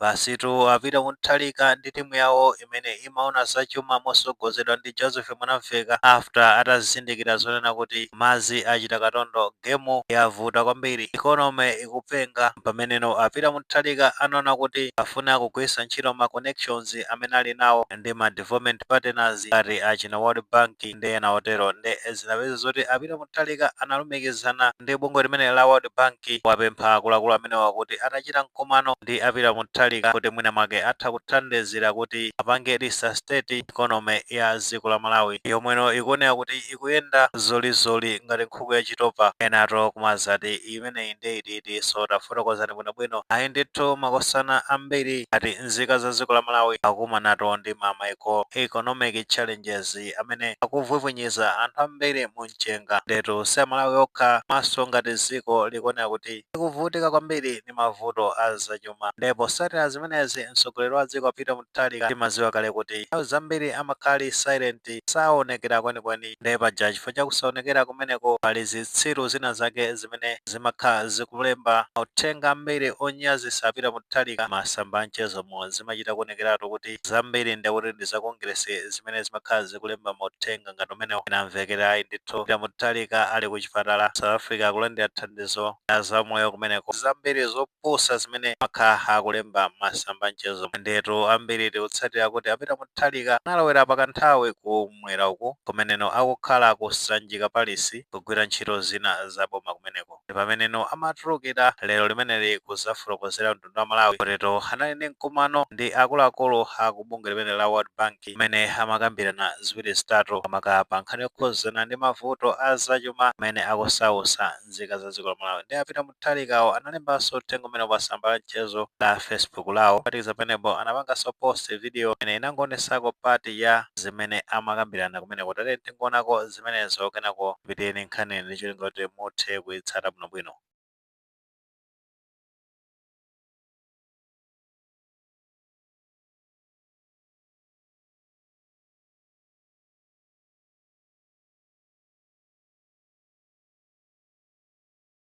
Basitu a Peter Mutharika ndi timu yawo imene imaona za chuma mosogozedwa ndi Joseph Mwanamvekha after atazindikira zonena kuti madzi achita katondo game yavuta kwambiri economy ikupenga mpameneno a Peter Mutharika anaona kuti afune akugwiritsa ntchito ma connections amene ali nawo ndi ma development partners ngati achina World Bank ndi ena otero nde zinapezeka zoti a Peter Mutharika analumikizana ndi bungwe limeneli la World Bank kuwapempha akuluakulu amenewa kuti atachite mkumano ndi a Peter Mutharika kuti mwina mwake atha kuthandizira kuti apange resuscitate economy ya dziko la Malawi yomweno ikuoneka kuti ikuyenda zolizoli ngati nkhuku ya chitopa. Enatu kumadzati imeneyi ndi itiitinso, tafotokozani bwinobwino. Ayi ndithu makosana ambiri ati nzika za dziko la Malawi akukumanatu ndi ma macroeconomic challenges. amene akuvwivwinyiza anthu ambiri mu mchenga. Ndetu si amalawi okha komanso ngati ziko likuoneka kuti likuvutika kwambiri ndi mavuto a zachuma nde potsatira zimenezi mtsogoleri wa dziko a Peter Mutharika timaziwa kale kuti nthawi zambiri amakhala ali silent saonekera kwenikweni nde paja chifukwa cha kusaonekera kumeneko pali zitsiru zina zake zimene zimakhala zikulemba mauthenga ambiri onyazitsa a Peter Mutharika m'masamba a mchezomo zimachita kuonekeratu kuti zambiri ndekuti ndi za Kongeresi zimene zimakhala zikulemba mauthenga ngati amenewo ena amvekere ayi ndithu Peter Mutharika ali ku chipatala ku south africa akulandira thandizo la za umoyo kumeneko zambiri zopusa zimene amakhala akulemba m'masamba a mchezomo ndiyetu ambiri tikutsatira kuti a Peter Mutharika analowera pakanthawi ku m'mwera uku kumeneno akukhala ku Sanjika Palace kugwira ntchito zina za boma kumeneko ndi pameneno amatulukira lero limeneli kuzafotokozera mtundu wa a Malawi kutitu anali ndi mkumano ndi akuluakulu a ku bungwe limeneli la World Bank kumene amakambirana ziwiri zitatu maka pa nkhani yokhuzana ndi mavuto a zachuma amene akusausa nzika za dziko la Malawi nde a Peter Mutharikawo analembanso uthenga umenewu pa tsamba la mchezo la Facebook lawo. Kuphatikiza pamenepo, anapanganso post video inangoonetsako part ya zimene amakambirana kumeneko. Tatiyeni tingoonako zimenezo kenako tipitirire nayo nkhaniyi ndi cholinga choti muthe kuitsata bwinobwino.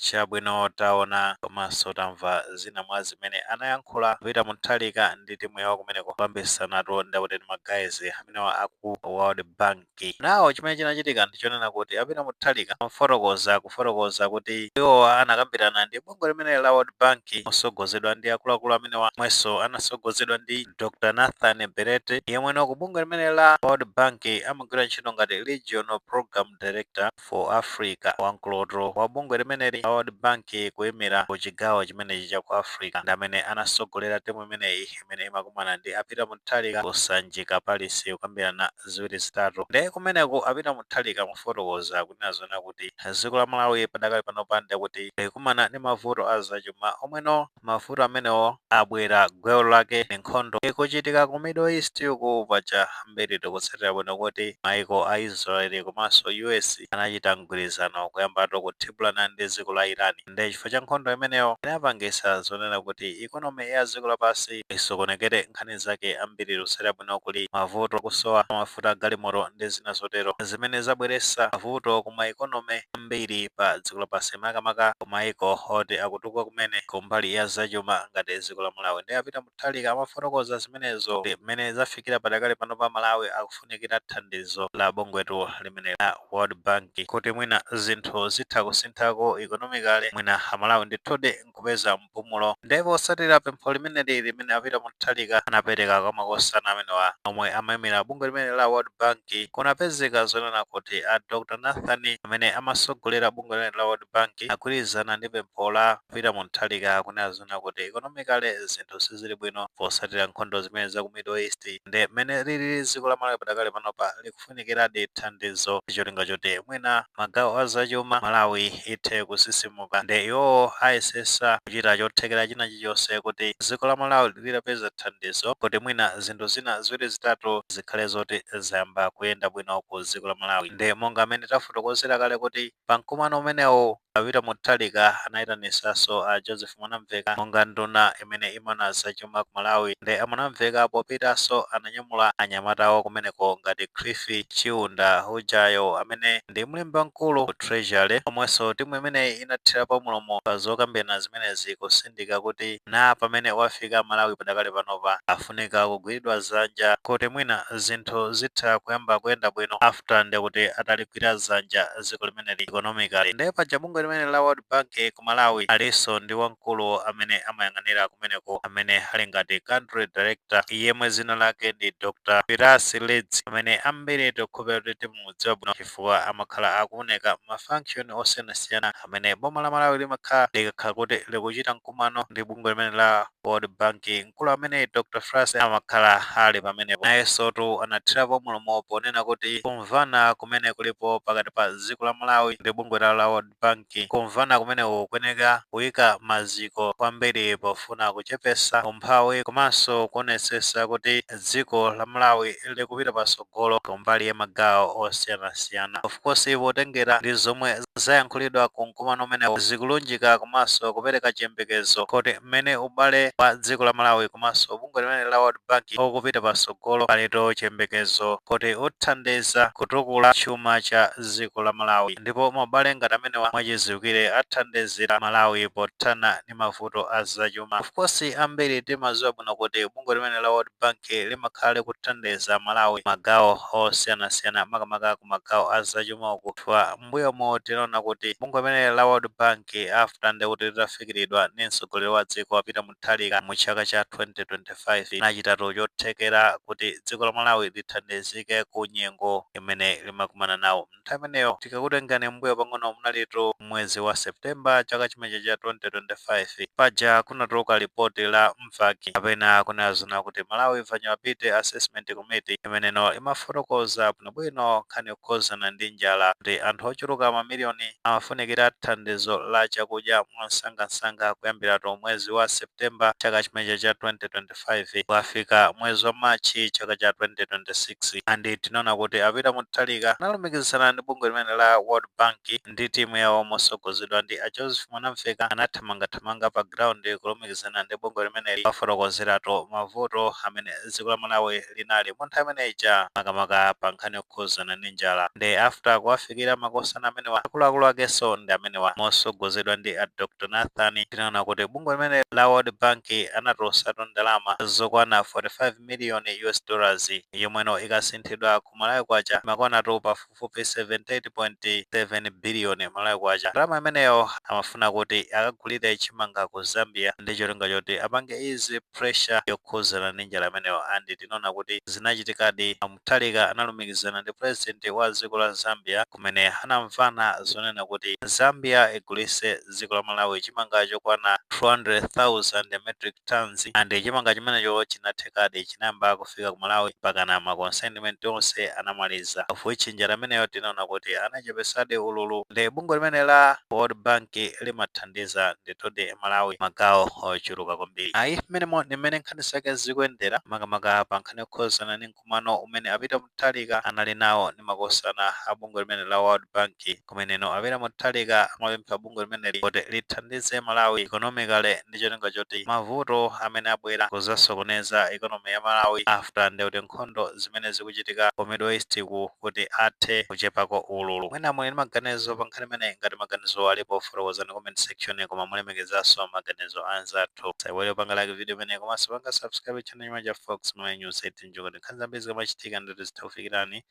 Chabwino taona komanso tamva zina mwa zimene anayankhula a Peter Mutharika ndi timu yawo kumeneko kukambitsanatu ndi akuti ndi ma guys amenewa aku world bank. Now chimene chinachitika ndi chonena kuti a Peter Mutharika pofotokoza akufotokoza kuti iwowa anakambirana ndi bungwe limeneli la world bank mosogozedwa ndi akuluakulu amenewa omwenso anasogozedwa ndi Dr Nathan Belete yemweno ku bungwe limeneli la world bank amagwira ntchito ngati regional program director. for Africa wamkulutu wa bungwe limeneli la World Bank kuimira ku chigawo chimenechi cha ku Africa ndi amene anasogolera timu imeneyi imene imakumana ndi a Peter Mutharika ku Sanjika Palace kukambirana ziwiri zitatu nde kumeneku a Peter Mutharika mofotokoza kunena zoona kuti dziko la Malawi padakali panopa ndekuti likumana ndi mavuto a zachuma omweno mavuto amenewo abwera gwelo lake ndi nkhondo ikuchitika ku middle east uku paja ambiri tikutsatira bwino kuti maiko a israel komanso us anachita mgwirizano kuyambatu kuthibulana ndi dziko la iran nde chifukwa cha nkhondo imeneyo inapangisa zonena kuti economy ya dziko lapansi isokonekere nkhani zake ambiri tikutsatira bwino kuli mavuto kusowa mafuta agalimoto ndi zina zotero zimene zabweresa mavuto ku ma economy ambiri pa dziko lapansi makamaka ku maiko oti akutu kuka kumene ku mbali ya zachuma ngati dziko la Malawi. Nde a Peter Mutharika amafotokoza zimenezo ndi mmene zafikira padakali panopa Malawi akufunikira thandizo la bungwetu limeneli la World Bank kuti mwina zinthu zitha kusinthako economically mwina a Malawi ndithudi nkupeza mpumulo. Nde potsatira pempho limeneli limene a Peter Mutharika anapereka kwa makosana amenewa omwe amaimira bungwe limeneli la World Bank, kunapezeka zonena kuti a Dr Nathan amene amatsogolera bungwe limeneli la World Bank agwirizana ndi pempho la Peter Mutharika kunena zoona kuti economically zinthu sizili bwino posatira nkhondo zimene za ku middle east nde mmene lilili dziko la Malawi padakali panopa likufunikiradi thandizo ndi cholinga choti mwina magawo a za chuma Malawi ithe kusisimuka nde iwowo ayesesa kuchita chothekera china chilichonse kuti dziko la Malawi litapeza thandizo kuti mwina zinthu zina ziwiri zitatu zikhale zoti zayamba kuyenda bwino ku dziko la Malawi nde monga mmene tafotokozera kale kuti Pa mkumano umenewu, a Peter Mutharika anayitanisaso a Joseph Mwanamveka monga nduna imene imaona za chuma ku Malawi nde a Mwanamveka popitaso ananyamula anyamatawo kumeneko ngati Cliff Chiunda ujayo amene ndi mlembi wamkulu ku Treasury omweso timu imeneyi inathirapo mlomo pa zokambirana zimenezi kusindika kuti na pamene wafika Malawi padakali panopa afunika kugwiridwa zanja kuti mwina zinthu zitha kuyamba kuyenda bwino after nde kuti ataligwira zanja ziko limeneli economically nde paja bungwe limeneli la world bank ku Malawi aliso ndi wamkulu amene amayang'anira kumeneko amene ali ngati country director yemwe zina lake ndi Dr Firas Raad amene ambiri tikukhulupirira kuti timamudziwa bwino chifukwa amakhala akuoneka ma function osiyanasiyana amene boma la Malawi limakhala likakhala kuti likuchita mkumano ndi bungwe limene la World Bank mkulu amene Dr. Firas amakhala ali pamenepo nayensotu anathirapo mulomo ponena kuti kumvana kumene kulipo pakati pa dziko la Malawi ndi bungwe la la World Bank kumvana kumeneku kuyeneka kuyika maziko kwambiri pofuna kuchepesa umphawi komanso kuonetsetsa kuti dziko la Malawi likupita patsogolo patsogolo kumbali ya magawo osiyanasiyana of course potengera ndi zomwe zayankhulidwa ku mkumano umenewo zikulunjika komanso kupereka chiyembekezo kuti mmene ubale wa dziko la Malawi komanso bungwe limene la World Bank ukupita patsogolo palitu chiyembekezo kuti uthandiza kutukula chuma cha dziko la Malawi ndipo maubale ngati amenewa mwachidziwikire athandizira Malawi pothana ndi mavuto a zachuma. Of course ambiri timaziwa bwino kuti bungwe limene la World Bank limakhala likuthandiza Malawi magawo osiyanasiyana makamaka ku magawo a zachuma uku chifukwa mbuyomu tinaona kuti bungwe limene la World Bank after ndekuti litafikiridwa ndi mtsogoleri wa dziko a Peter Mutharika mu chaka cha 2025 linachitatu chothekera kuti dziko la Malawi lithandizike ku nyengo imene limakumana nawo. Nthawi imeneyo tikakutengani mmbuyo pang'ono munalitu mwezi wa September chaka chimenecho cha 2025. Paja kunatuluka lipoti la Mvac kapena kunena zonena kuti Malawi Vulnerability Assessment Committee imeneno imafotokoza bwinobwino nkhani yokhuzana ndi njala kuti anthu ochuluka mamiliyoni amafunikira thandizo la chakudya mwamsangamsanga kuyambiratu mwezi wa September chaka chimenecho cha 2025. 2025 kukafika mwezi wa March chaka cha 2026 and tinaona kuti a Peter Mutharika analumikizana ndi bungwe limene la World Bank ndi timu yawo mosogozedwa ndi a Joseph Mwanamveka anathamangathamanga pa ground kulumikizana ndi bungwe limeneli kuwafotokozeratu mavuto amene dziko la Malawi linali munthawi imene ija makamaka pa nkhani yokhuzana ndi njala nde after kuwafikira makosana amenewa akuluakulu akenso ndi amenewa mosogozedwa ndi a Dr Nathan tinaona kuti bungwe limene la World Bank anatulutsatu ndalama zokwana 45 million US dollars yomweno ikasinthidwa ku Malawi kwacha imakwanatu pafupi pafupifupi 78.7 biliyoni Malawi kwacha. Ndalama imeneyo amafuna kuti akagulire chimanga ku Zambia ndi cholinga choti apange ease pressure yokhuzana ndi njala imeneyo and tinaona kuti zinachitikadi. A Mutharika analumikizana ndi President wa dziko la Zambia kumene anamvana zonena kuti Zambia igulitse dziko la Malawi chimanga chokwana 200,000 metric tonnes and chimanga chimenecho chinathekadi chinayamba kufika ku Malawi mpakana ma consignment onse anamaliza of which njala imeneyo tinaona kuti anachepesadi ululu and bungwe limene la World Bank limathandiza ndithudi Malawi magawo ochuluka kwambiri. Ayi mmenemo ndi mmene nkhani zake zikuyendera makamaka pa nkhani yokhuzana ndi mkumano umene a Peter Mutharika anali nawo ndi makosana a bungwe limene la World Bank kumeneno a Peter Mutharika amapempha bungwe limeneli kuti lithandize Malawi economically ndi cholinga choti mavuto amene abwera kuzasokoneza economy ya Malawi after ndekuti nkhondo zimene zikuchitika ku Middle East-ku kuti athe kuchepako ululu. Mwina muli ndi maganizo pa nkhani imeneyi? Ngati maganizo alipo fotokozani comment section koma mulemekezenso maganizo a anzathu. Musaiwale kupanga like video imeneyi komanso panga subscribe channel. channel ya Fox Malawi News site ncholinga choti nkhani zambiri zikamachitika ndithu zitha kufikirani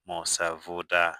mosavuta.